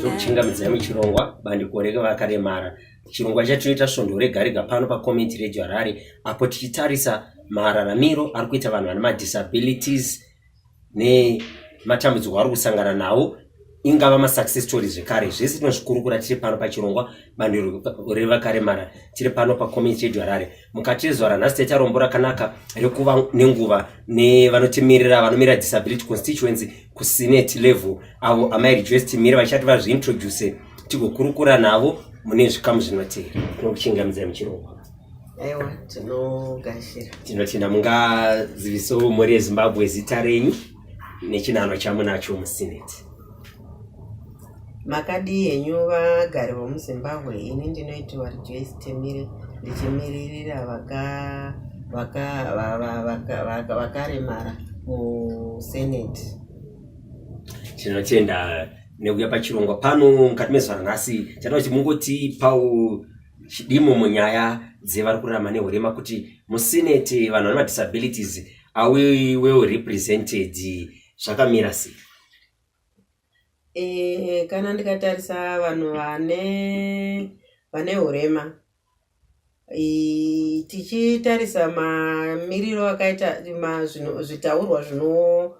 tokuchingamidza yami chirongwa bandiko revakaremara chirongwa chatinoita svondo rega rega pano pacommunity radio harare apo tichitarisa mararamiro ari kuita vanhu vane madisabilities nematambudziko ari kusangana nawo ingava masuccess story zvekare zvese tinozvikurukura tiri pano pachirongwa bandiko revakaremara tiri pano pacommunity radio harare mukati zuva ranhasi taita rombo rakanaka rekuva nenguva nevanotimirira vanomirira disability constituency kusenate level avo amai rejoice timire vachati vazviintroduce tigokurukura navo mune zvikamu zvinotera tinokuchingamidzai muchirongwa aiwa tinogashira tinotenda mungazivisawo mhuri yezimbabwe zita renyu nechinhanho chamunacho musenate makadii henyu vagari vomuzimbabwe ini ndinoitiwa rejoice temire ndichimiririra vakaremara musenate tinotenda nekuya pachirongwa pano mukati mezuva ranhasi tinoda kuti mungotipawo chidimo munyaya dzevari kurarama nehurema kuti musenate vanhu vane madisabilities are we well represented zvakamira sei eh, kana ndikatarisa vanhu vane vane urema tichitarisa mamiriro akaita zvitaurwa zvino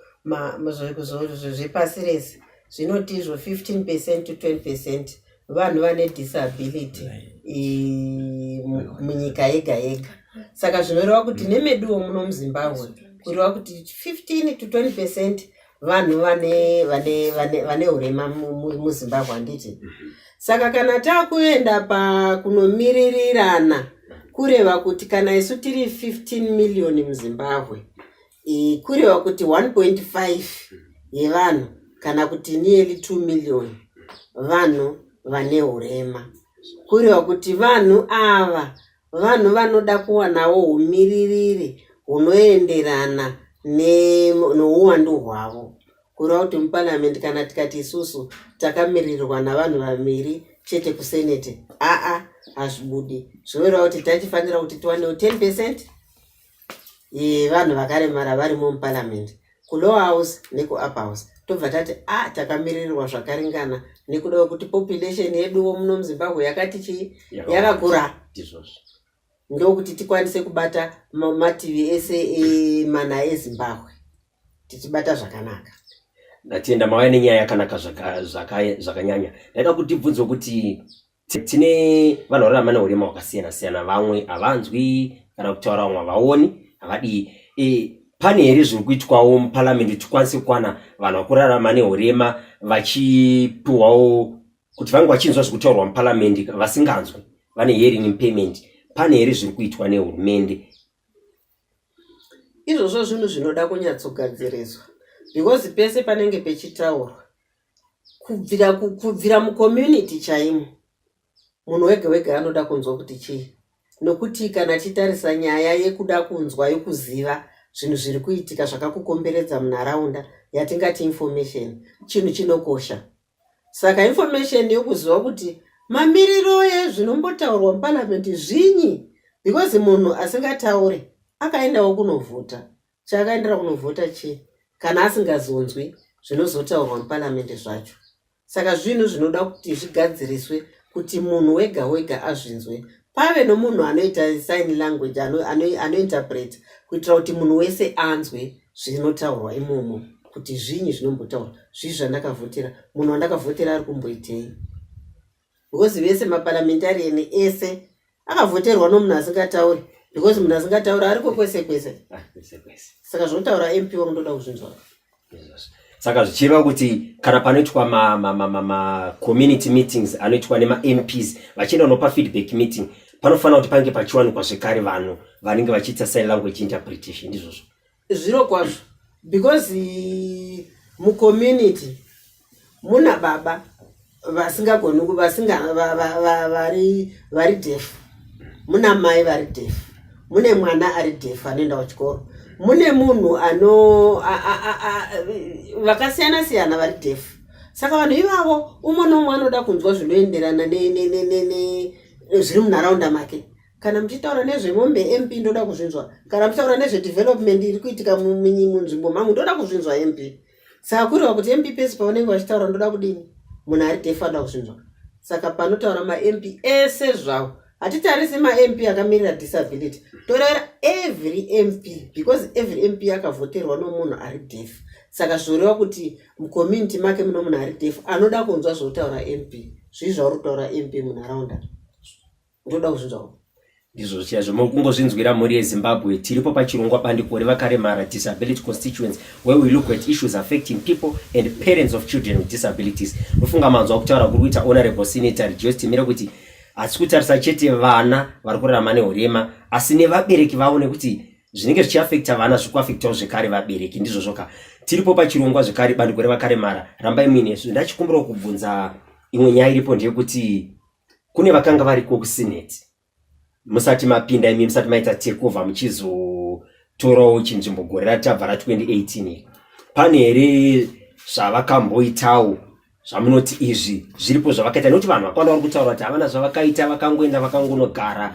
zvepasi rese zvinotizvo 15 percent to 20 percent vanhu vane disability munyika yega yega saka zvinoreva kuti nemeduwo muno muzimbabwe kureva kuti 15 to 20 percent vanhu vane vane vane vane urema muzimbabwe handiti saka kana takuenda pakunomiririrana kureva kuti kana isu tiri 15 million muzimbabwe Eh, kureva kuti 1.5 yevanhu kana kuti nearly 2 million vanhu vane urema kureva kuti vanhu ava vanhu vanoda kuwanawo umiririri hunoenderana ne- nouwandu hwavo kureva kuti muparliament kana tikati isusu takamirirwa navanhu vaviri chete kusenate aa hazvibudi zvinoreva kuti tachifanira kuti tiwanewo 10 percent vanhu vakaremara varimo muparliament kulower house nekuupper house tobva tati a ah, takamirirwa zvakaringana nekuda kwekuti population yeduwo muno muzimbabwe yakati chii yakakura ndokuti tikwanise kubata mativi ese emana ezimbabwe tichibata zvakanaka ndatenda mauya nenyaya yakanaka zvakanyanya ndaida kutibvunzwa kuti Tine vanhu vanorarama neurema hwakasiyana siyana, vamwe havanzwi kana kutaura, vamwe havaoni, havadii. E, pane here zviri kuitwawo muparliament kuti tikwanise kukwana vanhu vakurarama neurema vachipiwawo kuti vange vachinzwa zviri kutaurwa muparliament vasinganzwi, vane hearing impairment? Pane here zviri kuitwa nehurumende? Izvozvo zvinhu zvinoda kunyatsogadziriswa because pese panenge pechitaurwa kubvira ku- kubvira mucommunity chaimo munhu wega wega anoda kunzwa kuti chii nokuti kana titarisa nyaya yekuda kunzwa yokuziva zvinhu zviri kuitika zvakakukomberedza munharaunda yatingati information chinhu chinokosha saka information yokuziva kuti mamiriro ezvinombotaurwa muparliament zvinyi because munhu asingataure akaendawo kunovhota Chaakaendera kunovhota chii kana asingazonzwi zvinozotaurwa muparamende zvacho? Saka zvinhu zvinoda kuti zvigadziriswe kuti munhu wega wega azvinzwe. Pave nomunhu anoita sign language ano, ano, anointerpreta kuitira kuti munhu wese anzwe zvinotaurwa imomo kuti zvinyi zvinombotaurwa zvii zvandakavhotera munhu wandakavhotera ari kumboitei because vese maparliamentarian ese akavhoterwa nomunhu asingatauri because munhu asingataura ariko kwese kwese ah, saka zvotaura mp wamunoda kuzvinzwa saka zvichireva kuti kana panoitwa macommunity meetings anoitwa nemamps vachienda kunopa feedback meeting panofanira kuti pange pachiwanikwa zvekare vanhu vanenge vachiita sign language interpretation ndizvozvo Zviro kwazvo because eh, mucommunity muna baba vasingagoni ku- vasinga va- va- va- vari vari defu muna mai vari defu mune mwana ari defu anoenda kuchikoro mune munhu ano a- a- a- a- vakasiyana siyana vari defu saka vanhu ivavo umwe noumwe anoda kunzwa zvinoenderana ne- ne- ne- ne- ne- zviri munharaunda make kana muchitaura nezvemombe mp ndoda kuzvinzwa kana muchitaura nezvedevelopment iri kuitika munzvimbo mangu ndoda kuzvinzwa mp saka kuriva kuti mp pese pavanenge vachitaura ndoda kudini munhu ari defa ndoda kuzvinzwa saka panotaura mamp ese zvawo hatitarisi mamp akamirira disability toraira every mp because every mp akavhoterwa nomunhu ari defa saka zvoreva kuti mucommunity make muno munhu ari defa anoda kunzwa zvotaura mp zvii zvauri kutaura mp munharaunda ndoda kuzvinzwa ndizvo zviya zvomokungozvinzwira mhuri yezimbabwe tiripo pachirongwa bandiko revakaremara disability constituents where we look at issues affecting people and parents of children with disabilities ndofunga manzwa kutaura kuri kuita honorable senator rejoice timire kuti hatisi kutarisa chete vana vari kurarama nehurema asi nevabereki vavo nekuti zvinenge zvichiafekta vana zviri kuafektawo zvekare vabereki ndizvozvoka tiripo pachirongwa zvekare bandiko revakaremara rambai muinesu ndachikumbirawo kubvunza imwe nyaya iripo ndeyekuti kune vakanga variko kusineti musati mapinda imi musati maita takeover muchizotorawo chinzvimbo gore ratabva ra 2018 pane here zvavakamboitawo zvamunoti izvi zviripo zvavakaita nekuti vanhu vakawanda vari kutaura kuti havana zvavakaita vakangoenda vakangonogara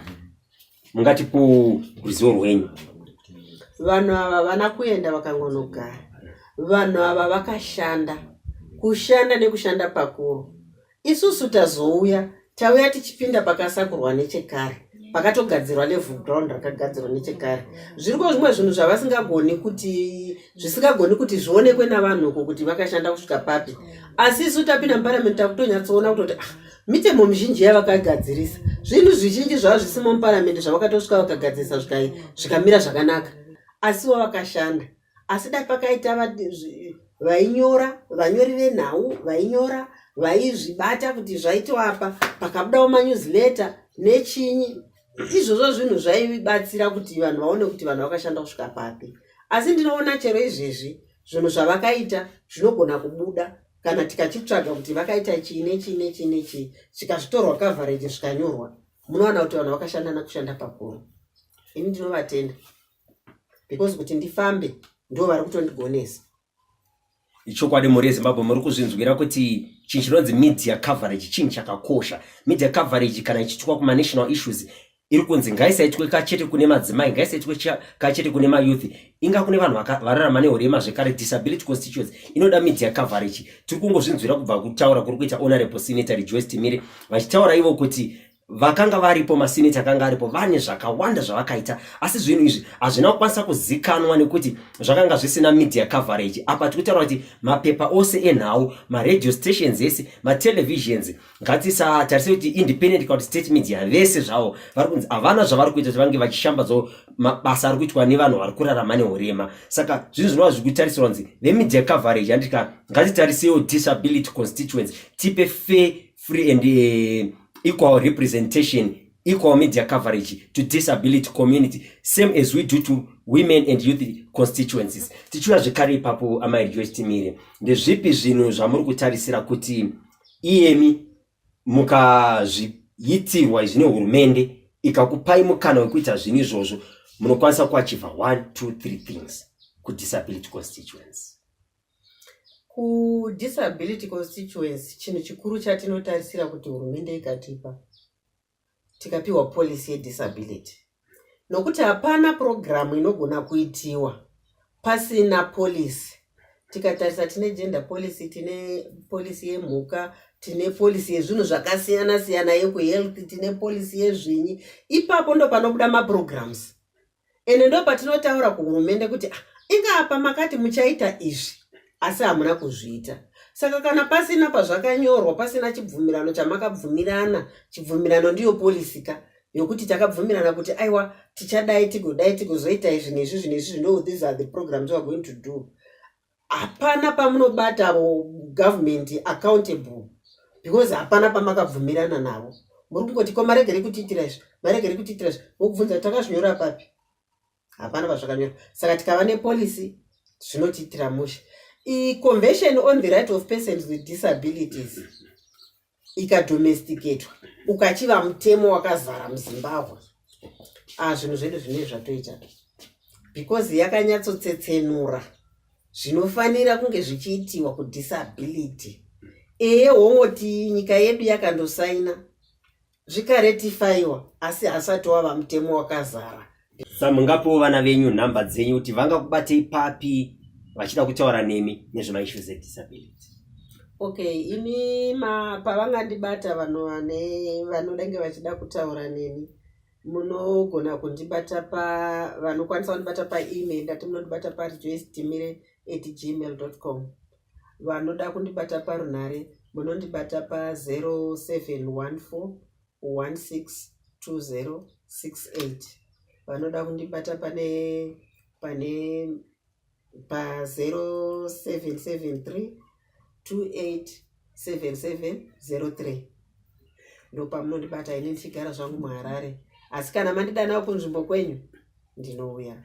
mungatipo ruzivo rwenyu vanhu ava havana kuenda vakangonogara vanhu ava vakashanda kushanda nekushanda pakuru Isusu tazouya tauya tichipinda pakasakurwa nechekare pakatogadzirwa level ground rakagadzirwa nechekare zviriko zvimwe zvinhu zvavasingagoni kuti zvisingagoni kuti zvionekwe navanhu uko kuti vakashanda kusvika papi asi isu tapinda muparamende takutonyatsoona kutoti ah, mitemo mizhinji yavakagadzirisa zvinhu zvizhinji zvava zvisimo muparamende zvavakatosvika vakagadzirisa zvikai zvikamira zvakanaka asi wavakashanda asi dai pakaita vainyora vanyori venhau vainyora vaizvibata kuti zvaitoapa pakabudawo manewsletter nechinyi izvozvo zvinhu zvaibatsira kuti vanhu vaone kuti vanhu vakashanda kusvika papi asi ndinoona chero izvezvi zvinhu zvavakaita zvinogona kubuda kana tikachitsvaga kuti vakaita chii nechii nechii nechii zvikazvitorwa coverage zvikanyorwa munoona kuti vanhu vakashanda nakushanda pakuru ini ndinovatenda because kuti ndifambe ndo vari kutondigonesa ichokwadi mhuri yezimbabwe muri kuzvinzwira kuti chinhu chinonzi media coverage chinhu chakakosha media coverage kana ichiitwa kumanational issues iri kunzi ngaisaitwe kachete kune madzimai ngaisaitwe kachete kune mayouth inga kune vanhu vararama nehurema zvekare disability constituents inoda media coverage tiri kungozvinzwira kubva kutaura kuri kuita honorable senator rejoice timire vachitaura ivo kuti vakanga varipo masineti akanga aripo vane zvakawanda zvavakaita asi zvinhu izvi hazvina kukwanisa kuzikanwa nekuti zvakanga zvisina media coverage apa tiri kutaura kuti mapepa ose enhau maradio stations ese matelevisions ngatisatarise kuti independent kana kuti state media vese zvavo vari kunzi havana zvavari kuita kuti vange vachishambadzawo mabasa ari kuitwa nevanhu vari kurarama neurema saka zvinhu zvinova zviri kutarisirwa kunzi vemedia coverage handika ngatitarisewo disability constituents tipe fair free and uh, equal representation equal media coverage to disability community same as we do to women and youth constituencies tichiuya zvekare ipapo amai rejoice timire ndezvipi zvinhu zvamuri kutarisira kuti iyemi mukazviitirwa izvi nehurumende ikakupai mukana wekuita zvinhu izvozvo munokwanisa kuachiva 1 2 3 things kudisability constituency KuDisability Constituency chinhu chikuru chatinotarisira kuti hurumende ikatipa tikapiwa policy yedisability nokuti hapana purogiramu inogona kuitiwa pasina policy tikatarisa tine gender policy tine policy yemhuka tine policy yezvinhu zvakasiyana siyana yekuhealth tine policy yezvinyi ipapo ndopanobuda mapurogiramus ende ndopatinotaura kuhurumende kuti ah, inga apa makati muchaita izvi asi hamuna kuzviita saka kana pasina pazvakanyorwa pasina chibvumirano chamakabvumirana chibvumirano ndiyo polisi ka yokuti takabvumirana kuti aiwa tichadai tigodai tigozoita izvi nezvi zvinezvi zvino these are the programs weare going to do hapana pamunobata government accountable because hapana pamakabvumirana navo muri kungoti ko marege ri kutiitira izvi marege ri kutiitira izvi vokubvunza kuti takazvinyora papi hapana pazvakanyora saka tikava nepolicy zvinotiitira mushe iconvention on the right of persons with disabilities ikadomesticatwa ukachiva mutemo wakazara muzimbabwe ah, zvinhu zvedu zvinei zvatoita because yakanyatsotsetsenura zvinofanira kunge zvichiitiwa kudisability eye wongoti nyika yedu yakandosaina zvikaretifiwa asi hasati wava mutemo wakazara sa mungapewo vana venyu nhamba dzenyu kuti vangakubatei papi vachida kutaura nemi nezvemaissues edisability okay ini ma pavangandibata vanhu vane vanodenge vachida kutaura neni munogona kundibata pa vanokwanisa kundibata paemail ndati munondibata parejoisdimire at gmail dot com vanoda kundibata parunhare munondibata pa 0714 162068 vanoda kundibata pane pane pa 0773 287703 ndopamunondibata ini ndichigara zvangu muharare asi kana mandidanawo kunzvimbo kwenyu ndinouya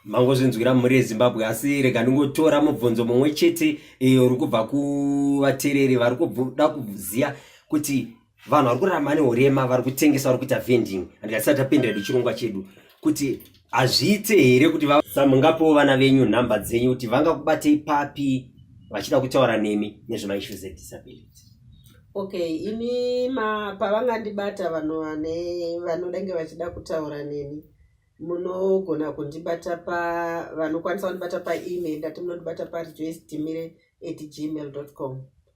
mangozvinzwira mhuri yezimbabwe asi rega ndingotora mubvunzo mumwe chete iyo uri kubva kuvatereri vari kuda kuziva kuti vanhu vari kurarama neurema vari kutengesa vari kuita vending and tisati tapindira nechirongwa chedu kuti hazviite here kuti mungapewo vana venyu nhamba dzenyu kuti vangakubatei papi vachida kutaura nemi nezvemaissues edisability okay ini ma pavangandibata vanhu vane vanodenge vachida kutaura neni munogona kundibata pa vanokwanisa kundibata paemail ndati munondibata parejoisdimire at gmail com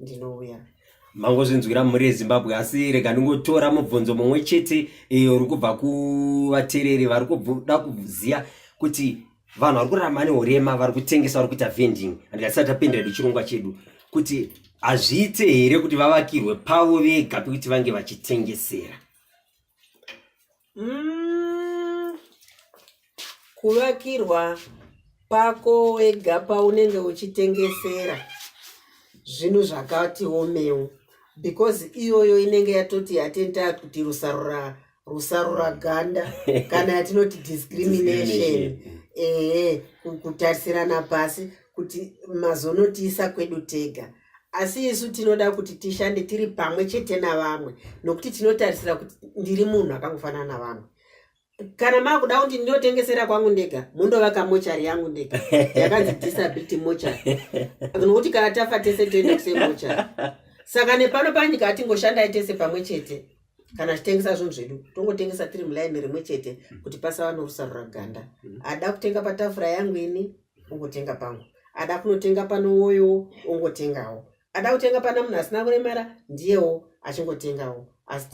ndinouya mangozvinzwira mhuri yezimbabwe asi rega ndingotora mubvunzo mumwe chete iyo uri kubva kuvatereri vari kuda kuziva kuti vanhu vari kurarama nehurema vari kutengesa vari kuita vending handikasati tapindira nechirongwa chedu kuti hazviite here kuti vavakirwe pavo vega pekuti vange vachitengesera mm, kuvakirwa pako wega paunenge uchitengesera zvinhu zvakati omewo because iyoyo inenge yatoti yatenta kuti rusarura rusarura ganda kana yatinoti discrimination ehe kutarisirana pasi kuti mazonotiisa kwedu tega asi isu tinoda kuti tishande tiri pamwe chete navamwe nokuti tinotarisira kuti ndiri munhu akangofanana navamwe kana makuda kuti ndinotengesera kwangu ndega mundovaka mochari yangu ndega yakanzi disability mochari nokuti kana tafa tese toenda kusemochari saka nepano panyika atingoshandai tese pamwe chete kana tichitengesa zvinhu zvedu tongotengesa tiri mulaini rimwe chete kuti pasava norusarura ganda mm. ada kutenga patafura yangu ini ungotenga pangu ada kunotenga pano woyo ongotengawo ada kutenga pana munhu asina kuremara ndiyewo achingotengawo asi